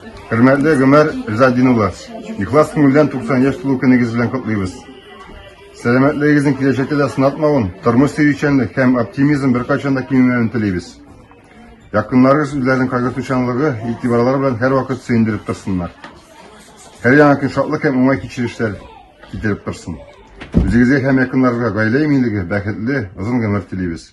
Хөрмәтле Гомәр Ризадин улы, ихлас күңелдән 90 яшь тулу көнегез белән котлыйбыз. Сәламәтлегегезнең киләчәктә дә сынатмавын, тормыш сөючәнлек һәм оптимизм беркайчан да кимемәвен телибез. Якыннарыгыз үзләренең кайгыртучанлыгы, игътибарлары белән һәрвакыт сөендереп торсыннар. Һәр яңа көн шатлык һәм уңай кичерешләр китереп торсын. Үзегезгә һәм якыннарыгызга гаилә иминлеге, бәхетле, озын гомер телибез.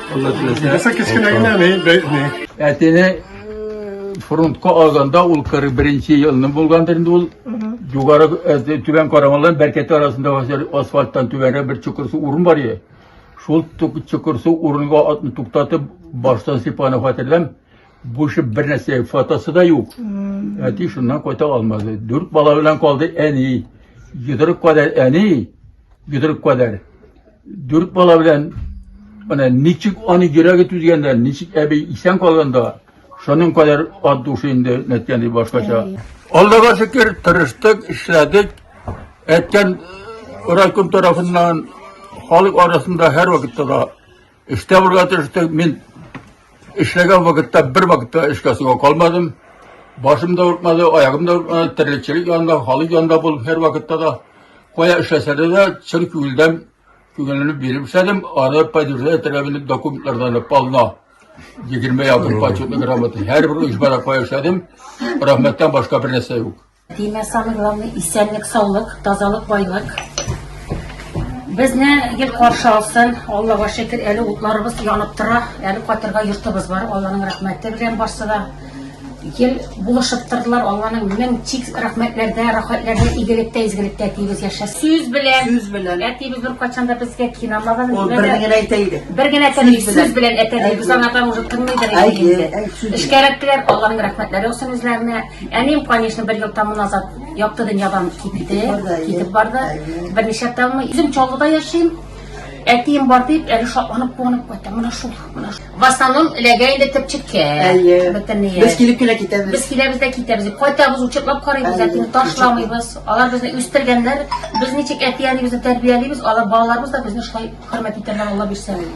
Алла теләсә. Яса кечкенә генә ни, ни. Әтене фронтка алганда ул 41 елны булгандыр инде ул. Югары түбән карамалдан бәркәте арасында асфальттан түбәнрәк бер чокырсу урын бар иде. Шул чокырсу урынга атны туктатып, баштан сыйпаны хәтерләм. Бу шып бер нәрсә, фотосы да юк. Әти шуннан кайта алмады. Дүрт бала белән калды әни. Йодрык кадәр әни, йодрык кадәр. Дүрт бала белән менә ничек аны йөрәге түзгәндә, ничек әби исән калганда, шуның кадәр ат душы инде нәткәни башкача. Аллага шөкер, тырыштык, эшләдек. Әткән райком тарафыннан халык арасында һәрвакытта да эштә булырга тырыштык. Мин Эшләгән вакытта бер вакытта эшкә суга калмадым. Башым да ортмады, аягым да ортмады, терлекчелек янында, халык янында бул һәр вакытта да. Кая эшләсәдә дә чын күңелдән күңелне биреп эшләдем. Аны поддержать итәргә минем документлардан полно. 20 якын почетный грамота. Һәр бер оешмада кая эшләдем. Рәхмәттән башка бер нәрсә юк. Димә, самый главный исәнлек, саулык, тазалык, байлык. Безне ел каршы алсын. Аллага шөкер, әле утларыбыз янып тора. Әле катырга йортыбыз бар. Алланың рәхмәте белән барсы да. Ел булышып тордылар. Алланың мең тик рәхмәтләрдә, рәхәтләрдә, игелектә, изгелектә тибез яшә. Сүз белән. Сүз белән. Әтибез бер качан да безгә кинамаган. Ул бер генә әйтә иде. Бер генә әйтә иде. Сүз белән әтә иде. Без аңардан уже тыңлыйдыр инде. Әй, әй, сүз. Эшкәрәк белән Алланың рәхмәтләре булсын үзләренә. Әнием, конечно, бер ел таман назад якты дөньядан китте, китеп барды. Берничә тәүме үзем Чаллыда яшим. Әтием бар дип, әле шатланып куанып кайтты. Менә шул, менә шул. В основном эләгә инде төпчеккә. Әйе. Бөтенләй. Без килеп кенә китәбез. Без киләбез дә китәбез. Кайтабыз, учетлап карыйбыз, әтине ташламыйбыз. Алар безне үстергәннәр. Без ничек әти-әнибезне тәрбиялибез, алар балаларыбыз да безне шулай хөрмәт итәрләр, Алла бирсә.